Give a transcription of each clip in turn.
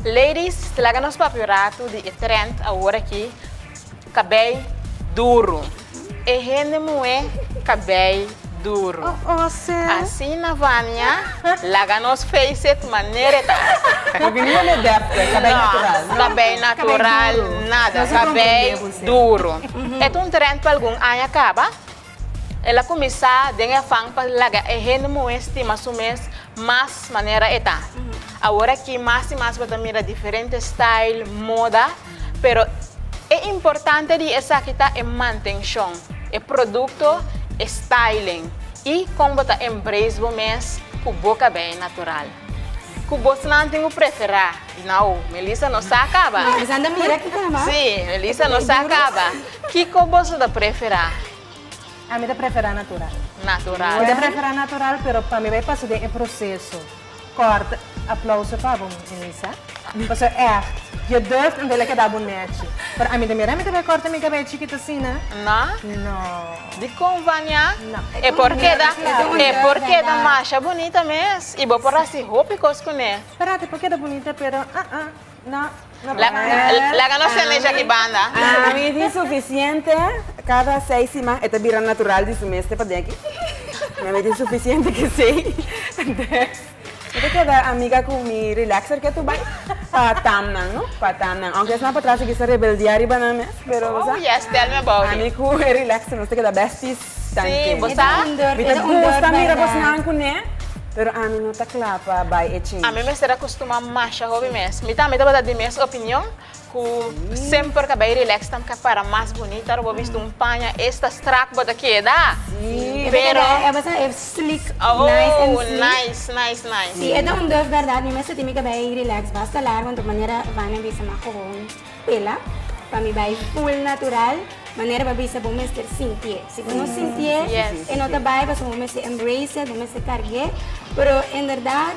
Ladies ta laga nos papia un ratu di e trend awor aki kabei duru e hende muhé kabei duru asina Vania laga nos face it manera e ta no kabei natural nada kabei duru e ta un trend pa algun aña kaba. El a kuminsá den e afan pa laga e hende muhé stima su mes mas manera e ta. Aworakí mas i mas bo ta mira diferente style, moda, pero e importante di esaki ta e mantenshon, e produkto, e styling i kon bo ta embrace bo mes ku bo kabei natural. Cu bosnan tin cu prefera? Nau, Melissa no sa caba. Melissa ta mira ki cama. Sí, Melissa no sa caba. Kico boso ta prefera? Ami ta prefera natural. Natural. Mi ta prefera natural pero pa mi bay pasa den e proceso. Corta. Aplauso pa bo Melissa. Mi paso echt. Je durft en wille keda bunerchi. Pero ami ta mira mi ta bai korta mi kabei chikit asina? Na? No. Di kon Vania? Na. E por keda, e por keda masha bunita mes i bo por hasi hopi kos kuné. Beraat e por keda bunita pero uh-uh, no, no por. Laga nos tene dja di banda. Ami tin sufisiente, kada seis siman e ta bira natural di su mes te padenki. Mi tin sufisiente kesei. Mi ta keda amiga ku mi relaxer ke tu bai pa tamnan no pa tamnan aunke esnan patras a bisa rebeldia riba nan mes pero bo sa ami ku e relaxer nos ta keda besties tanke mi ta gusta mira pues nan kuné pero ami no ta kla pa bai e change. Ami mester akustuma masha hopi mes mi tambe tabata di mes opinion. Ku semper ta bai relax ta ka para mas bunita ora bo a bisti un paña esta strak bo ta keda. Si pero e bo sa e slik nice and slik. Aww nice nice nice. Si e ta un duf berdad mi mester tin mi ka bai relax basta lar want tok manera Vania bisa ma gewoon pela pa mi bai full natural manera bo a bisa bo mester sintié si bo no sintié e no ta bai pasobra bo mester embrace it bo mester kargué pero en berdad.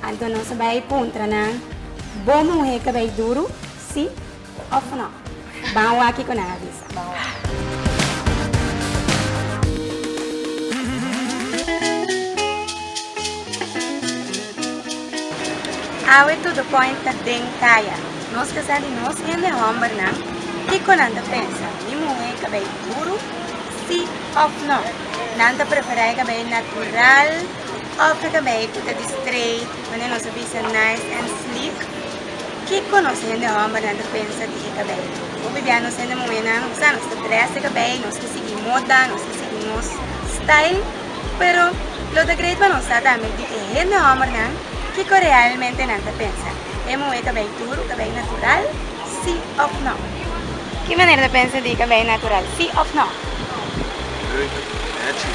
Anto nos a bai puntra nan, Bo muhé cabei duru, sí of no? Ban a oa kico nan a bisa. Awe todo point ta den caya. Nos ta sa di nos hende hombernan kico nan ta pensa, mi muhé cabei duru, sí of no? Nan ta preferai cabei natural. Africa bay cu ta di straight, manera nos a bisa nice and sleek. Kico nos hende hombernan ta pensa di e cabello? Hopi bia nos hende muhernan, nos sa, nos ta dress di cabello, nos ta sigui moda, nos ta sigui nos style. Pero lo ta great pa nos sa tambe di e hende hombernan kico realmente nan ta pensa. E muher cabello tur o cabello natural? Si of no? Ki manera ta pensa di cabello natural? Si of no? Leuk, Natchie.